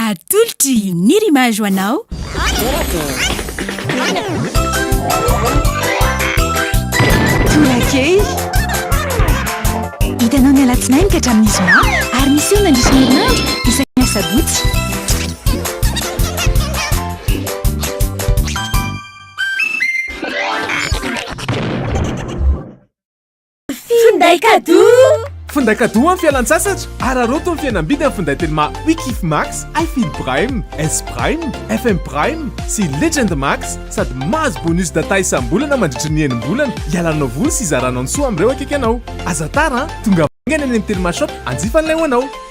Atolotry ny rimage ho anao. Tolakely. Hitanao ny alatsinainy ka hatramin'ny zoma ary misy eo nandritra ny herinandro isaky ny asabotsy. Finday kadoa! Finday kadoa amin'ny fialan-tsasatra! Araraoty ny fihenam-bidy amin'ny finday telma Wikif Max, iField Prime, S Prime, FM Prime sy Legend Max sady mahazo bonus data isam-bolana mandritry ny enim-bolana hialanao voly sy hizaranao ny soa amin'ireo akaiky anao. Aza tara an! Tonga haingana eny amin'ny Telma Shop hanjifa an'ilay ho anao!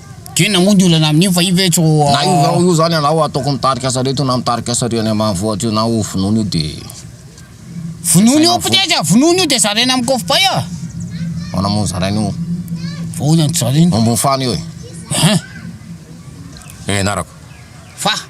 Tena moa ny olana amin'io fa io ve tsy ho. Na io io zany anao ataoko mitarika sarety io na mitarika sary any ambanivohitra io na ho vonoina io de. Vonoina io peut-être a, vonoina io de zaraina amin'ny kofpay a. Ahoana moa no zaraina io? Fa ahoana no zaraina? Ambony fano io e. Hein? Ianarako. Fa.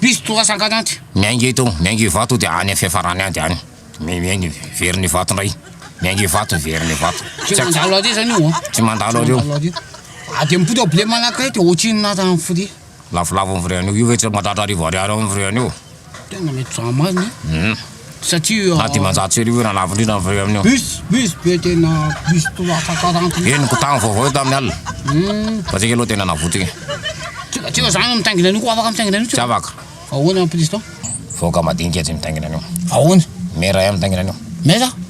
Piso toa sangany any. Miainga eto, miainga Ivato dia any fiafarany any dia any. Miainga Iverina Ivato indray. Miainga Ivato, Iverina Ivato. Tsy mandalo ary zany io. Tsy mandalo ary io. A dia mipody ao blé manakay dia ohatrinona tany firia. Lafolafo ny frais an'io. Io ve tsy mandratra arivo ariary ao ny frais an'io. Tena mety zah marina. Na dimanjato sy arivo eo na lafo indrindra ny frais amin'io. Henoko tamin'ny vaovao io tamin'ny alina fa tsika aloha tena navotika. Tsy afaka. Vahoaka madinika tsy mitaingina an'io. Maire ihany mitaingina an'io.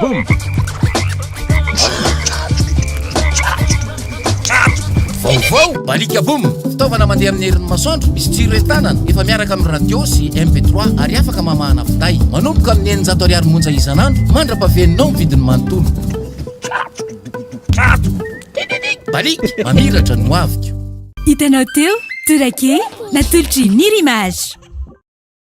Boom! Vaovao, Balika Boom! Fitaovana mandeha amin'ny herin'ny masoandro, misy jiro entanana, efa miaraka amin'ny radio sy MP3 ary afaka mamahana finday. Manomboka amin'ny eninjato ariary monja isan'andro mandra-pahaveninao ny vidiny manontolo. Balik, mamiratra ny hoaviko. Hitanao teo, Tourake, natolotry Nir'Image.